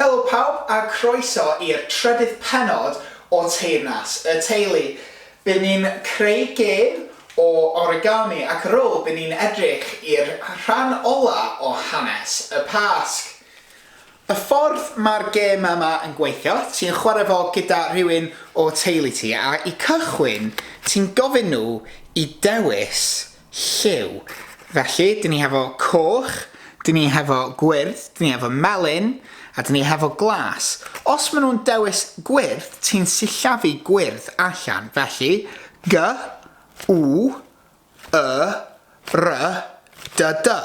Helo pawb a croeso i'r trydydd pennod o Teyrnas y Teulu. Byn ni'n creu gêm o origami ac ar ôl byn ni'n edrych i'r rhan ola o hanes y Pasg. Y ffordd mae'r gêm yma yn gweithio, ti'n chwarae fo gyda rhywun o teulu ti a i cychwyn ti'n gofyn nhw i dewis Lliw. Felly, dyn ni hefo coch, dyn ni hefo gwyrdd, dyn ni hefo melyn, a dyn ni hefo glas. Os maen nhw'n dewis gwyrdd, ti'n sillafu gwyrdd allan. Felly, G, W, Y, R, D, D.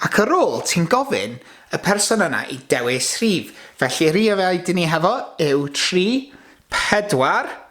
Ac ar ôl, ti'n gofyn y person yna i dewis rhif. Felly, rhifau dyn ni hefo yw 3, 4,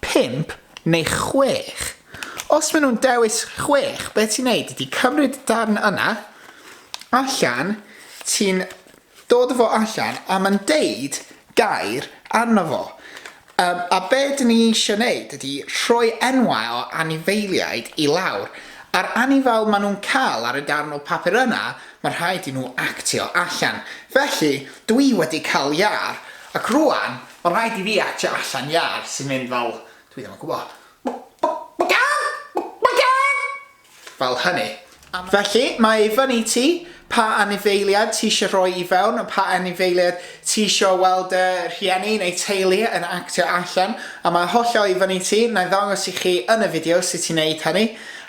pump neu chwech. Os maen nhw'n dewis chwech, be ti'n neud ydy cymryd y darn yna allan, ti'n dod o fo allan a mae'n deud gair arno fo. Um, a be dyn ni eisiau neud ydy rhoi enwau o anifeiliaid i lawr. A'r anifail maen nhw'n cael ar y darn o papur yna, mae rhaid i nhw actio allan. Felly, dwi wedi cael iar, ac rwan Mae'n rhaid i fi acsio allan iâr sy'n mynd fel, dwi ddim yn gwybod, fel hynny. Felly, mae i fyny i ti pa anifeiliaid ti eisiau rhoi i fewn, a pa anifeiliaid ti eisiau weld dy rhieni neu teulu yn actio allan, a mae hollol i fyny i ti, na i ddangos i chi yn y fideo sut i wneud hynny.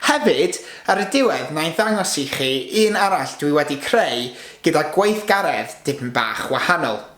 Hefyd, ar y diwedd, na i ddangos i chi un arall dwi wedi creu gyda gweithgaredd dipyn bach wahanol.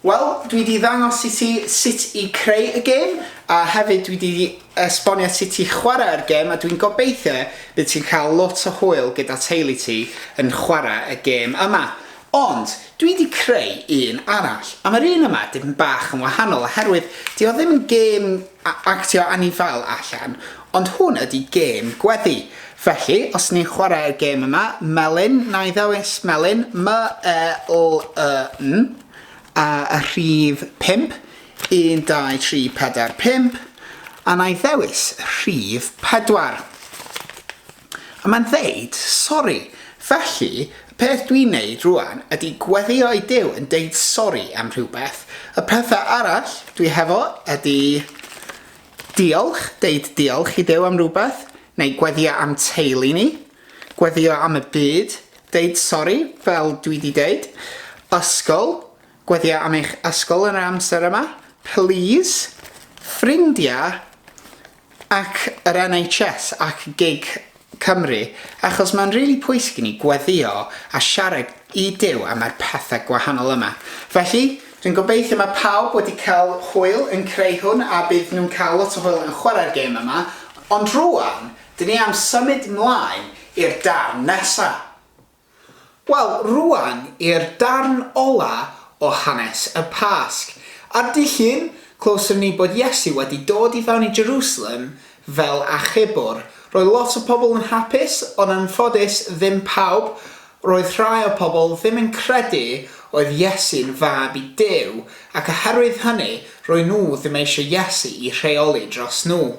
Wel, dwi wedi ddangos i ti sut i creu y gêm, a hefyd dwi wedi esbonio sut i chwarae'r gêm, a dwi'n gobeithio bydd ti'n cael lot o hwyl gyda teulu ti yn chwarae y gêm yma. Ond, dwi wedi creu un arall, a mae'r un yma dipyn bach yn wahanol oherwydd 'di o ddim yn gêm a- actio anifail allan, ond hwn ydi gêm gweddi. Felly, os ni'n chwarae'r gêm yma, melyn, na i ddewis melyn, M-E-L-Y-N, a y rhif 5, 1, 2, 3, 4, 5, a na i ddewis rhif 4. A mae'n dweud, Sori. Felly, y peth dwi'n wneud rŵan ydy gweddïo i Duw yn deud sori am rhywbeth. Y pethau arall dwi hefo ydy diolch, deud diolch i Duw am rhywbeth, neu gweddïo am teulu ni, gweddïo am y byd, deud sori, fel dwi 'di deud, ysgol, gweddïo am eich ysgol yn yr amser yma, plîs, ffrindiau, ac yr NHS ac gig Cymru achos mae'n rili pwysig i ni gweddio a siarad i Duw am yr pethe gwahanol yma. Felly, dwi'n gobeithio mae pawb wedi cael hwyl yn creu hwn a bydd nhw'n cael lot o hwyl yn chwarae'r gêm yma, ond rwan, dyn ni am symud mlaen i'r darn nesa. Wel, rwan i'r darn ola o hanes y Pasg. Ar Dydd Llun, clywsom ni bod Iesu wedi dod i fewn i Jerusalem fel achubwr. Roedd lot o pobl yn hapus, ond yn ffodus ddim pawb. Roedd rhai o'r pobl ddim yn credu oedd Iesu'n fab i Duw, ac oherwydd hynny, roen nhw ddim eisiau Iesu i rheoli dros nhw.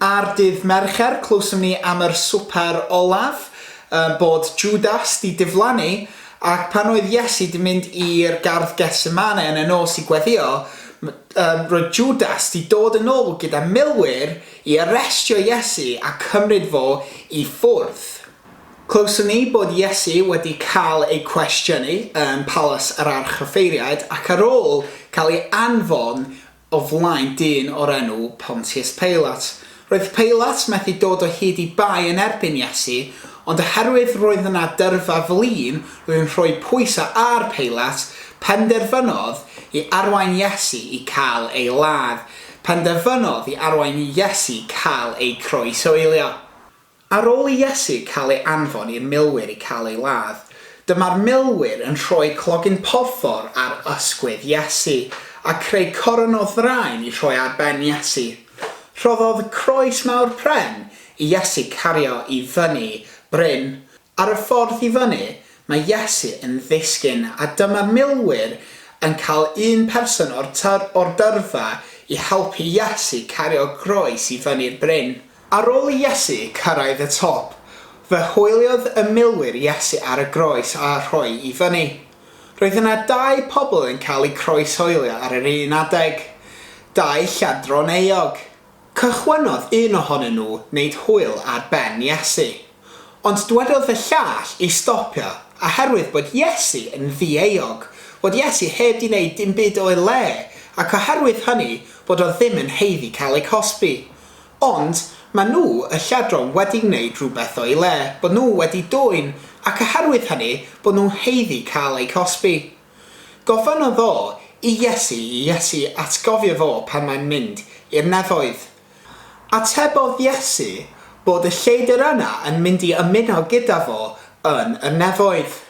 Ar dydd Mercher clywsom ni am yr swper olaf, yy bod Jwdas 'di diflannu, ac pan oedd Iesu 'di mynd i'r gardd Getsemane yn y nos i gweddio, yym roedd Jwdas 'di dod yn ôl gyda milwyr i arestio Iesu a cymryd fo i ffwrdd. Clywsom ni bod Iesu wedi cael ei cwestiynu ym Palas yr Archoffeiriaid ac ar ôl cael ei anfon o flaen dyn o'r enw Pontius Peilat. Roedd Peilat methu dod o hyd i bai yn erbyn Iesu, ond oherwydd roedd yna dyrfa flin, roedd yn rhoi pwysau ar Peilat, penderfynodd i arwain Iesu i cael ei ladd. Penderfynodd i arwain i Iesu cael ei croeshoelio. Ar ôl i Iesu cael ei anfon i'r milwyr i cael ei ladd, dyma'r milwyr yn rhoi clogyn porffor ar ysgwydd Iesu, a creu coron o ddraen i rhoi ar ben Iesu. Rhoddodd croes mawr pren i Iesu cario i fyny bryn Ar y ffordd i fyny, mae Iesu yn ddisgyn a dyma milwyr yn cael un person o'r tŷ o'r dyrfa i helpu Iesu cario groes i fyny'r bryn. Ar ôl i Iesu cyrraedd y top, fe hwyliodd y milwyr Iesu ar y groes a rhoi i fyny. Roedd yna dau pobl yn cael eu croeshoelio ar yr un adeg. Dau lladron euog. Cychwynnodd un ohonyn nhw wneud hwyl ar ben Iesu. Ond dwedodd y llall i stopio, oherwydd bod Iesu yn ddieuog, bod Iesu heb 'di wneud dim byd o'i le, ac oherwydd hynny, bod o ddim yn haeddu cael ei cosbi. Ond, maen nhw, y lladron, wedi gwneud rhywbeth o'i le, bod nhw wedi dwyn, ac oherwydd hynny, bod nhw'n haeddu cael eu cosbi. Gofynnodd o i Iesu i Iesu atgofio fo pan mae'n mynd i'r nefoedd. Atebodd Iesu bod y lleidr yna yn mynd i ymuno gyda fo yn y nefoedd.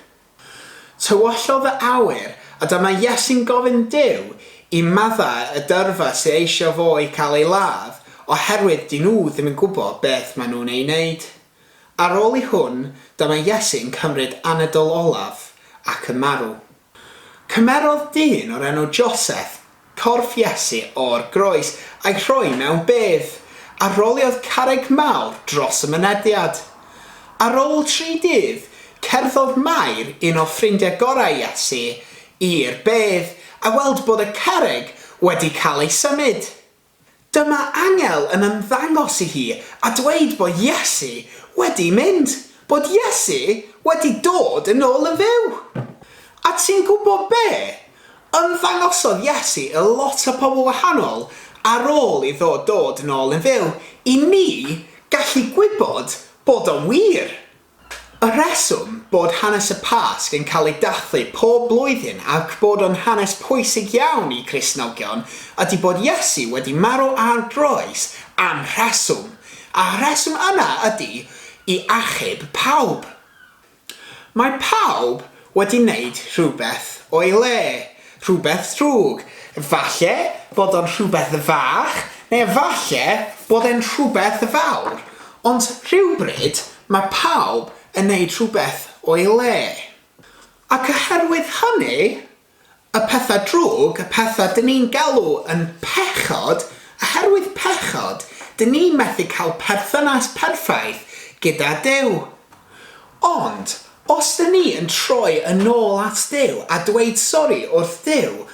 Tywyllodd y awyr a dyma Iesu'n gofyn Duw i maddau y dyrfa sy eisio fo i cael ei ladd oherwydd 'dyn nhw ddim yn gwybod beth maen nhw'n ei wneud. Ar ôl i hwn, dyma Iesu'n cymryd anadl olaf ac yn marw. Cymerodd dyn o'r enw Joseph corff Iesu o'r groes a'i rhoi mewn bedd, a roliodd carreg mawr dros y mynediad. Ar ôl tri dydd, cerddodd Mair, un o ffrindiau gorau Iesu, i'r bedd a weld bod y carreg wedi cael ei symud. Dyma angel yn ymddangos i hi a dweud bo Iesu wedi mynd, bod Iesu wedi dod yn ôl yn fyw! A ti'n gwbo be? Ymddangosodd Iesu i lot o pobl wahanol ar ôl iddo dod yn ôl yn fyw, i ni gallu gwybod bod o'n wir! Y rheswm bod hanes y Pasg yn cael ei dathlu pob blwyddyn ac bod o'n hanes pwysig iawn i Gristnogion ydy bod Iesu wedi marw ar groes am rheswm, a'r rheswm yna ydy i achub pawb. Mae pawb wedi wneud rhywbeth o'i le, rhywbeth drwg, falle bod o'n rhywbeth fach neu efallai bod e'n rhywbeth fawr, ond rhywbryd mae pawb yn wneud rhywbeth o'i le. Ac oherwydd hynny, Y pethau drwg, y pethau dyn ni'n galw yn pechod, oherwydd pechod, dyn ni methu cael perthynas perffaith gyda Duw. Ond, os dyn ni yn troi yn ôl at Duw a dweud sori wrth Duw,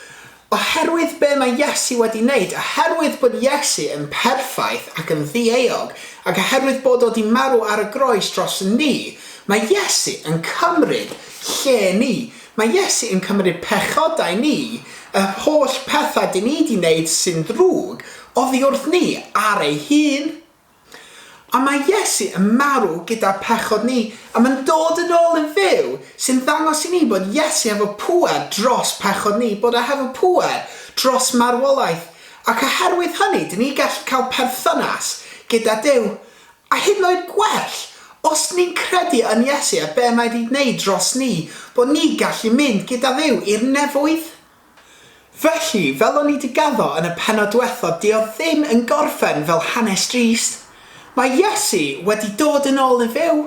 oherwydd be mae Iesu wedi wneud, oherwydd bod Iesu yn perffaith ac yn ddieuog, ac oherwydd bod o 'di marw ar y groes dros ni, mae Iesu yn cymryd lle ni, Mae Iesu yn cymryd pechodau ni, yr holl pethau dyn ni 'di 'neud sy'n ddrwg oddi wrth ni, ar ei hun. Ond mae Iesu yn marw gyda'r pechod ni, a mae'n dod yn ôl yn fyw, sy'n ddangos i ni bod Iesu hefo pŵer dros pechod ni, bod e hefo pŵer dros marwolaeth, ac oherwydd hynny dyn ni gallu cael perthynas gyda Duw. A hyd yn oed gwell, os ni'n credu yn Iesu a be' mae 'di wneud dros ni, bod ni'n gallu mynd gyda Dduw i'r nefoedd. Felly, fel o'n i 'di gaddo yn y pennod diwethaf 'di o ddim yn gorffen fel hanes drist. Mae Iesu wedi dod yn ôl i fyw,